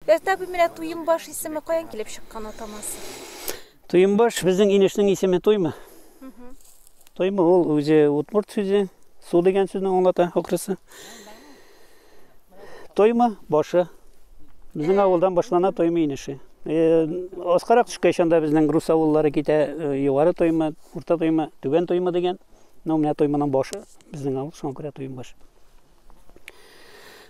Рәстә бу менә Туембаш исеме каян килеп чыккан атамасы? Туембаш безнең инешнең исеме Туйма. Туйма ул үзе утмурт сүзе, су дигән сүзне аңлата акрысы. Туйма башы. Безнең э. авылдан башлана Туйма инеше. Э, Аскарак төшкәч анда безнең рус авыллары китә, э, югары Туйма, урта Туйма, түбән Туйма дигән. Ну, менә туймының башы, безнең авыл, шуңа күрә туйым баш.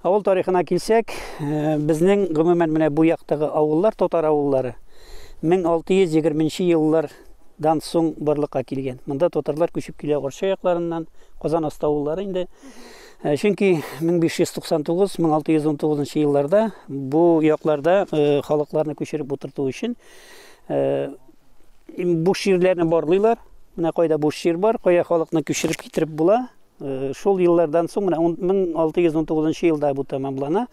Авыл тарихына килсәк, э, безнең гомумән менә бу яктагы авыллар, татар авыллары 1620 еллар дан соң барлыкка килгән. Монда татарлар күчеп килә Орча якларыннан, Казан аста авыллары инде. Э, чөнки 1599-1619 елларда бу якларда э, халыкларны күчереп утырту өчен э, Буш җирләрне барлыйлар. Менә кайда буш җир бар, кая халыкны күчереп китереп була. Э, шул еллардан соң менә 1619 елда бу тәмамлана.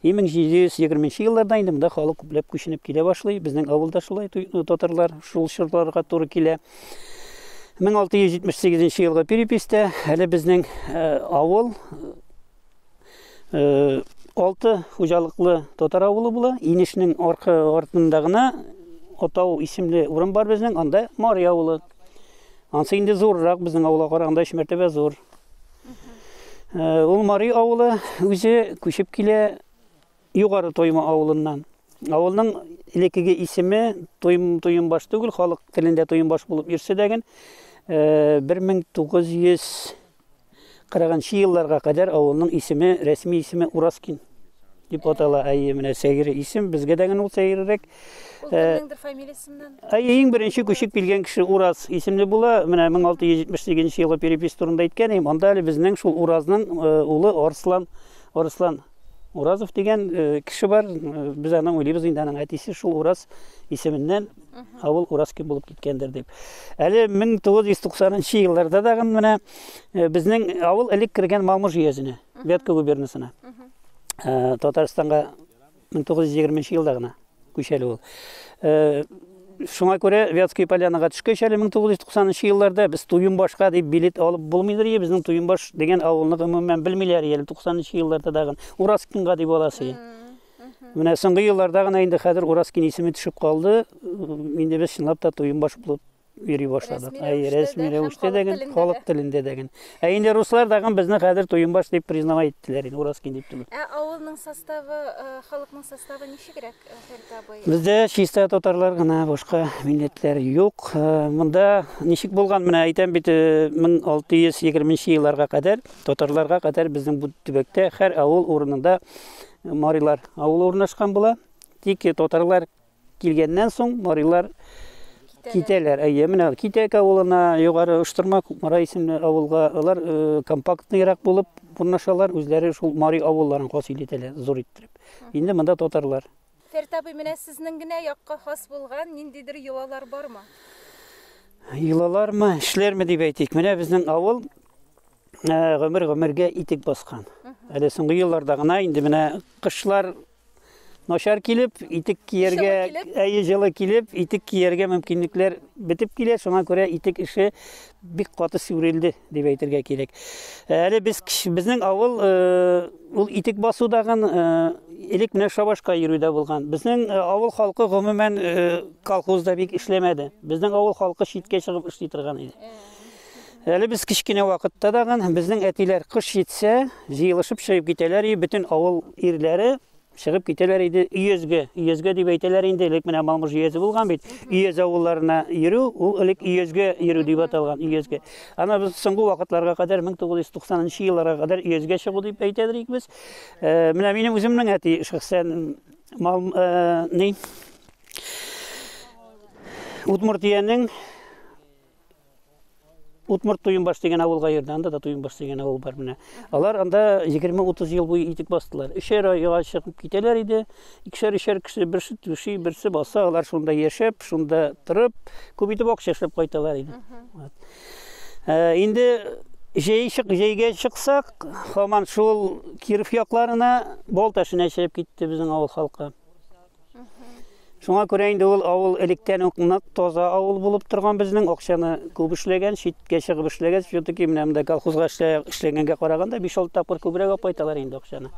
1720 елларда инде монда халык күпләп күченеп килә башлый. Безнең авылда шулай э, татарлар шул чорларга туры килә. 1678 елгы перепистә әле безнең э, авыл Э, алты хуҗалыклы татар авылы була. Инешнең аркы артында гына Атау исемле урын бар безнең, анда Мари авылы. Ансы инде зуррак безнең авылга караганда өч мәртәбә зур. Э, ул Мари авылы үзе күчеп килә Югары Тойма авылыннан. Авылның элеккеге исеме Тойм Тоймбаш түгел, халык телендә Тоймбаш булып йөрсә дә, 1900 Кырыгынчы елларга кадәр авылның исеме, рәсми исеме Ураскин дип атала. Әйе, менә сәйре исем, безгә дә генә ул сәйрерәк. Ул э, кемнеңдер фамилиясеннән? Әйе, иң беренче күчеп килгән кеше Ураз исемле була. Менә 1678 елы перепис турында әйткән идем. Анда әле безнең шул Уразның э, улы Арслан, Арслан Уразов дигән э, кеше бар. Без аны уйлыйбыз инде, аның әтисе шул Ураз исеменнән авыл Ураскин булып киткәндер дип. Әле 1990 елларда да менә э, безнең авыл элек кергән Малмыж җөясенә, Вятка губернасына. Э, Татарстанга 1920 елда гына күчәле ул. Э, шуңа күрә Вятская полянаға төшкәч әле 1990 елларда без Туйымбашка дип билет алып булмыйдыр, безнең Туйымбаш дигән авылны гомумән белмиләр әле 90 елларда дагы. Ураскинга дип аласы. Менә соңгы елларда гына инде хәзер Уразкин исеме төшеп калды. Инде без чынлап та туембаш булып йөри башладык. Әй, рәсми рәвештә дә гел, халык телендә дә гел. Ә инде руслар дагы безне хәзер туембаш дип признавай иттеләр инде, Уразкин дип түгел. Ә авылның составы, халыкның составы ничегрәк, Фәрит абый? Бездә чиста татарлар гына, башка милләтләр юк. Монда ничек булган, менә әйтәм бит, 1620 елларга кадәр, татарларга кадәр безнең бу төбәктә һәр авыл урынында Марилар авылы урнашкан була. Тик татарлар килгәннән соң марилар китәләр. Әйе, менә Китәк авылына, югары Оштырма Кукмара исемле авылга алар э, компактныйрак булып урнашалар, үзләре шул мари авылларын хасил итәләр, зур иттереп. Инде монда татарлар. Фәрт абый, менә сезнең генә якка хас булган ниндидер йолалар бармы? Йолалармы, эшләрме дип әйтик. Менә безнең авыл ә, гомер гомергә итек баскан. Әле соңгы елларда гына инде менә кышлар начар килеп, итек кияргә, әйе җылы килеп, итек кияргә мөмкинлекләр бетеп килә, шуңа күрә итек эше бик каты сүрелде дип әйтергә кирәк. Әле без безнең авыл э, ул итек басудагын э, элек менә шабашка йөрүдә булган. Безнең э, авыл халкы гомумән колхозда бик эшләмәде. Безнең авыл халкы читкә чыгып эшли торган иде. Әле без кечкенә вакытта да гын, безнең әтиләр кыш җитсә, җыелышып чыгып китәләр и бөтен авыл ирләре чыгып китәләр иде өязгә. Өязгә дип әйтәләр инде, элек менә Малмыж өязе булган бит. Өяз авылларына йөрү, ул элек өязгә йөрү дип аталган, өязгә. Ана без соңгы вакытларга кадәр 1990 нчы елларга кадәр өязгә чыгу дип әйтәдер ик без. Э, менә минем үземнең әти шәхсән мал э, ни Удмуртиянең Утмурт Туйынбаш дигән авылга йөрде, анда да Туйынбаш дигән авыл бар менә. Алар анда 20-30 ел буе итек бастылар. Өчәр айга чыгып китәләр иде. Икешәр өчәр кеше берсе түши, берсе баса, алар шунда яшәп, шунда торып, күп итеп акча эшләп кайталар иде. Ә, инде җәй чык, җәйгә чыксак, хаман шул Киров якларына Болташына чыгып китте безнең авыл халкы. Шуңа күрә инде ул авыл электән үк нык таза авыл булып торган безнең акчаны күп эшләгән, читкә чыгып эшләгән, все-таки менә монда колхозга эшләгәнгә караганда 5-6 тапкыр күбрәк апайталар инде акчаны.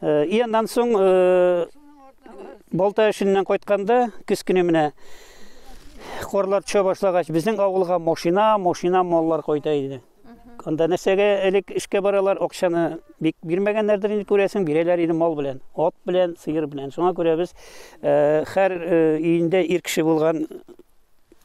Э, и аннан соң э, балта эшеннән кайтканда көз көне менә корлар төшә башлагач, безнең авылга машина, машина маллар кайта иде. Анда нәрсәгә элек эшкә баралар, акчаны бик бирмәгәннәрдер инде күрәсең, бирәләр иде мал белән, ат белән, сыер белән. Шуңа күрә без э, һәр э, өендә ир кеше булган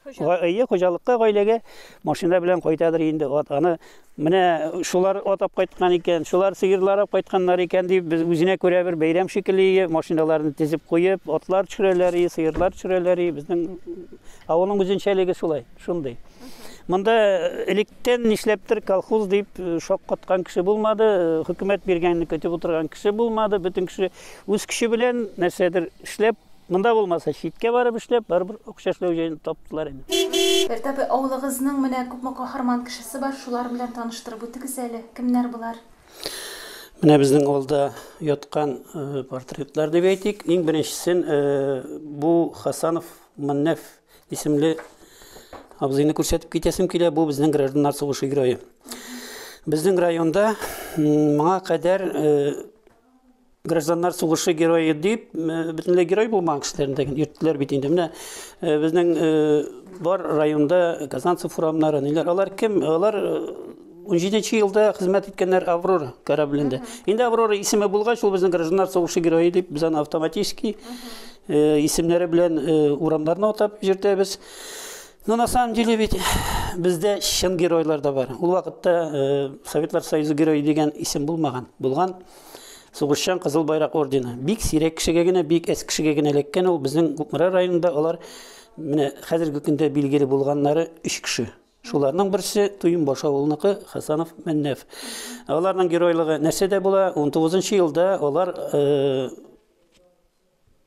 әйе хуҗалыкка гаиләгә машина белән кайтадыр инде ат аны менә шулар атап кайткан икән шулар сыерлар алып кайтканнар икән дип без үзенә күрә бер бәйрәм шикелле машиналарны тезеп куеп атлар төшерәләр сыерлар төшерәләр безнең авылның үзенчәлеге шулай шундый Монда электен нишләптер колхоз дип э, шаккаткан кеше булмады, э, хөкүмәт биргәнне көтеп утырган кеше булмады, бөтен кеше үз көче белән нәрсәдер эшләп, монда булмаса читкә барып эшләп, барыбер акча эшләү җаен таптылар инде. Бертапы авылыгызның менә күпме каһарман кешесе бар, шулар белән таныштырып үтегез әле. Кемнәр булар? Менә безнең авылда яткан э, портретлар дип әйтик. Иң беренчесен бу Хасанов Маннәф Исемле абзыйны күрсәтеп китәсем килә, бу безнең гражданнар сугышы герое. Безнең районда моңа кадәр э, гражданнар сугышы герое дип, э, бөтенләй герой булмаган кешеләрендә йөрттеләр бит инде. Менә э, безнең бар районда Казанцев урамнары, ниләр, алар кем? Алар 17 нче елда хезмәт иткәннәр Аврора кораблендә. Инде Аврора исеме булгач, ул безнең гражданнар сугышы герое дип без аны автоматически э, исемнәре белән э, урамнарны атап йөртәбез. Но на самом деле ведь бездә чын геройлар да бар. Ул вакытта э, Советлар Союзы герое дигән исем булмаган. Булган сугышчан Кызыл байрак ордены. Бик сирәк кешегә генә, бик әз кешегә генә эләккән ул безнең Кукмара районында алар менә хәзерге көндә билгеле булганнары 3 кеше. Шуларның берсе Туйынбаш авылыныкы Хасанов Мәннәф. Аларның геройлыгы нәрсә дә була, 19 елда алар э,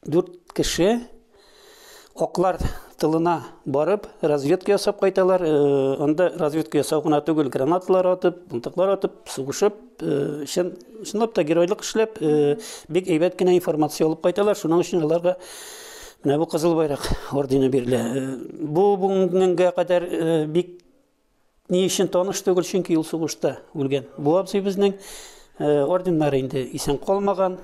дүрт кеше оклар тылына барып, разведка ясап кайталар. Э, анда разведка ясау гына түгел, гранаталар атып, мылтыклар атып, сугышып, Э, чын, чынлап та геройлык эшләп, э, бик әйбәт кенә информация алып кайталар, шуның өчен аларга менә бу кызыл байрак ордены бирелә. Э, бу бүгенгә кадәр бик ни өчен таныш түгел, чөнки ул сугышта үлгән. Бу абзый безнең орденнар инде исән калмаган.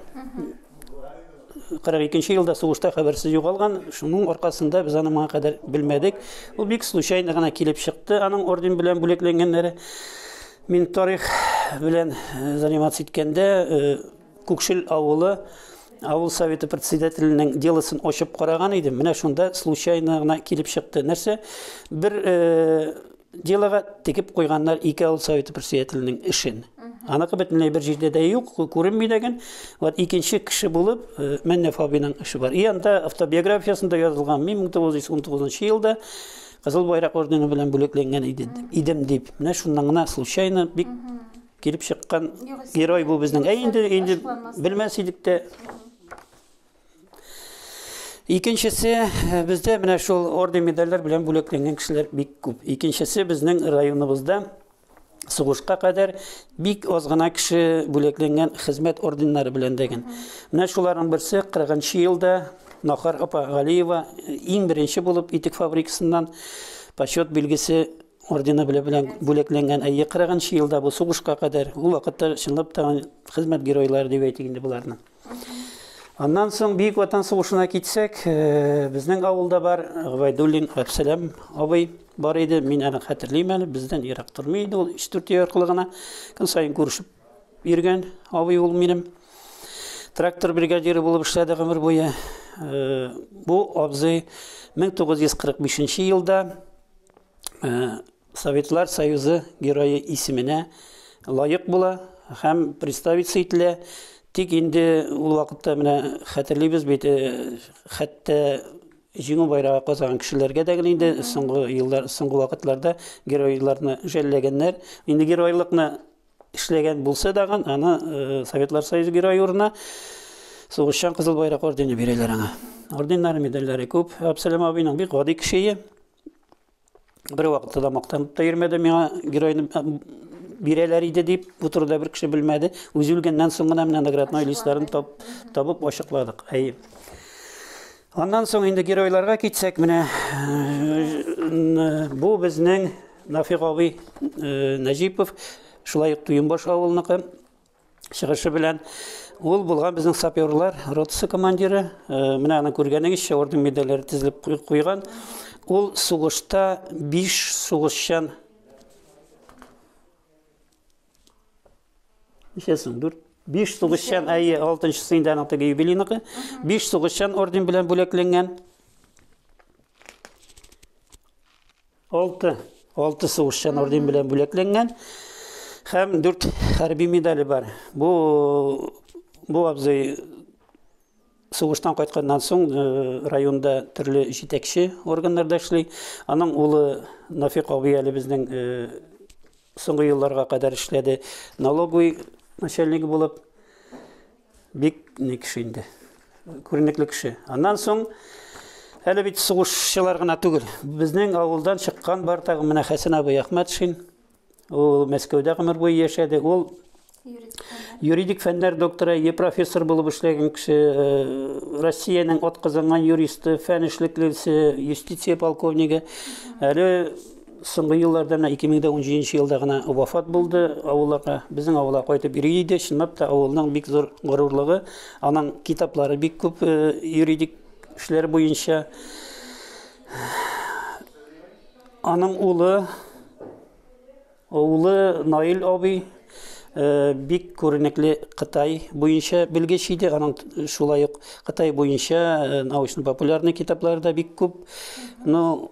кырык икенче елда сугышта хәбәрсез югалган шуның аркасында без аны моңа кадәр белмәдек ул бик случайно гына килеп чыкты аның орден белән бүләкләнгәннәре мин тарих белән э, заниматься иткәндә э, күкшел авылы авыл советы председателенең делосын ачып караган идем менә шунда случайно гына килеп чыкты нәрсә бер э, Делога тегеп куйганнар ике авыл советы председателенең эшен. Аныкы бөтенләй бер җирдә дә юк, күренми дәген. Вот икенче кеше булып э, Мәннә Фабиның эше бар. И анда автобиографиясендә язылган, мин 1919 елда Кызыл байрак ордены белән бүлекләнгән иде, идем дип. Менә шуннан гына случайно бик килеп чыккан герой бу безнең. Ә инде инде белмәс идек тә. Икенчесе, э, бездә менә шул орден медальләр белән бүләкләнгән кешеләр бик күп. Икенчесе безнең районыбызда сугышка кадәр бик аз гына кеше бүләкләнгән хезмәт орденнары белән дәгән. Менә шуларның берсе 40 елда Нахар апа Галиева э, иң беренче булып итек фабрикасыннан почет билгесе ордены белән бүләкләнгән әйе кырыгынчы елда бу сугышка кадәр ул вакытта чынлап та хезмәт геройлары дип әйтик инде боларны Аннан соң Бөек Ватан сугышына китсәк, э, безнең авылда бар Габайдуллин Әпсәләм абый бар иде. Мин аны хәтерлим әле, бездән ерак тормый иде ул, 3-4 ел аркылы гына. Көн саен күрешеп йөргән абый ул минем. Трактор бригадиры булып эшләде гомер буе. Э, бу абзый 1945 елда э, Советлар Союзы Герое исеменә лаек була һәм представиться ителә. Тик инде ул вакытта менә хәтерлибез бит, хәтта җиңү байрагы казаган кешеләргә дә инде соңгы еллар, соңгы вакытларда геройларны жәлләгәннәр. Инде геройлыкны эшләгән булса да, аны э, Советлар Союзы герое урынына сугышчан кызыл байрак ордены бирәләр аңа. Орденнары, медальләре күп. Абсалам абыйның бик гади кешее. бер вакытта да мактанып та йөрмәде миңа геройны бирәләр иде дип бу турыда бер кеше белмәде үзе үлгәннән соң гына менә наградной листларын тап, табып ачыкладык әйе аннан соң инде геройларга китсәк менә э, бу безнең нафигавый э, нәҗипов шулай ук туембаш авылныкы чыгышы белән ул булган безнең саперлар ротасы командиры э, менә аны күргәнегезчә орден медальләре тезелеп куйган ул сугышта биш сугышчан ничәсен дүрт биш сугышчан әйе алтынчысы инде аның теге юбилейныкы биш сугышчан орден белән бүләкләнгән Алты, алты сугышчан орден белән бүләкләнгән һәм дүрт хәрби медале бар. Бу бу абзый сугыштан кайтканнан соң э, районда төрле җитәкче органнарда эшли. Аның улы Нафик абый әле безнең э, соңгы елларга кадәр эшләде налоговый начальник булып. Бик ни кеше инде. Күренекле кеше. Аннан соң әле бит сугышчылар гына түгел. Безнең авылдан чыккан бар тагы менә Хәсән абый Әхмәтшин. Ул Мәскәүдә гомер буе яшәде. Ул юридик фәннәр докторы, е профессор булып эшләгән кеше, э, Россиянең атказанган юристы, фән эшлеклесе, юстиция полковнигы. Әле Соңгы елларда менә 2017 елда гына вафат булды авылларга. Безнең авылга кайтып йөри иде. Чынлап та авылның бик зур горурлыгы. Аның китаплары бик күп э, юридик эшләр буенча. Аның улы улы Наил абый Э, бик күренекле Кытай буенча белгеч иде. Аның шулай ук Кытай буенча э, научно-популярный китаплары да бик күп. Но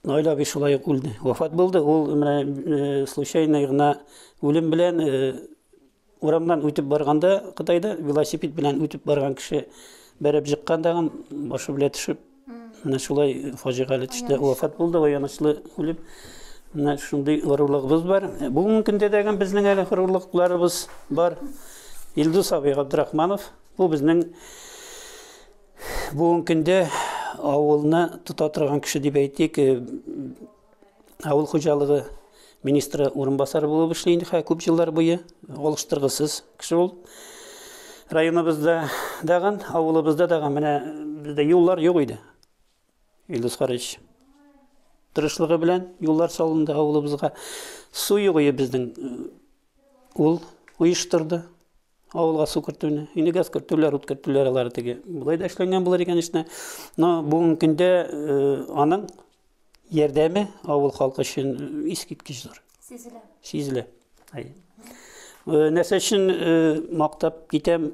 Наил абый шулай ук үлде. Вафат булды. Ул менә э, случайно гына үлем белән э, урамнан үтеп барганда Кытайда велосипед белән үтеп барган кеше бәреп җыккан дагын башы белән төшеп менә шулай фаҗигале төштә вафат булды аянычлы үлеп менә шундый горурлыгыбыз бар бүгенге көндә дәгән безнең әле горурлыкларыбыз бар илдус абый габдрахманов бу безнең Бүгенге көндә авылны тота торган кеше дип әйтик, э, авыл хуҗалыгы министры урынбасары булып эшли инде хә күп еллар буе алыштыргысыз кеше ул районыбызда даган авылыбызда даган менә бездә юллар юк иде Илдус Карыч тырышлыгы белән юллар салынды авылыбызга. Су югыйы безнең ул оештырды авылга су кертүне. Инде газ кертүләр, ут кертүләр алар теге. Болай да эшләнгән булыр икән эшне. Но бүгенге көндә аның ярдәме авыл халкы өчен искиткеч зур. Сизелә. Сизелә. Нәрсә өчен мактап китәм?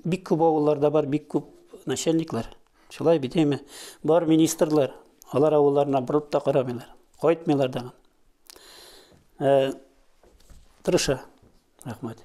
Бик күп авылларда бар, бик күп начальниклар. Шулай бит әйме. Бар министрлар, алар авылларына борылып та карамыйлар. Кайтмыйлар да. Э, тырыша. Рәхмәт.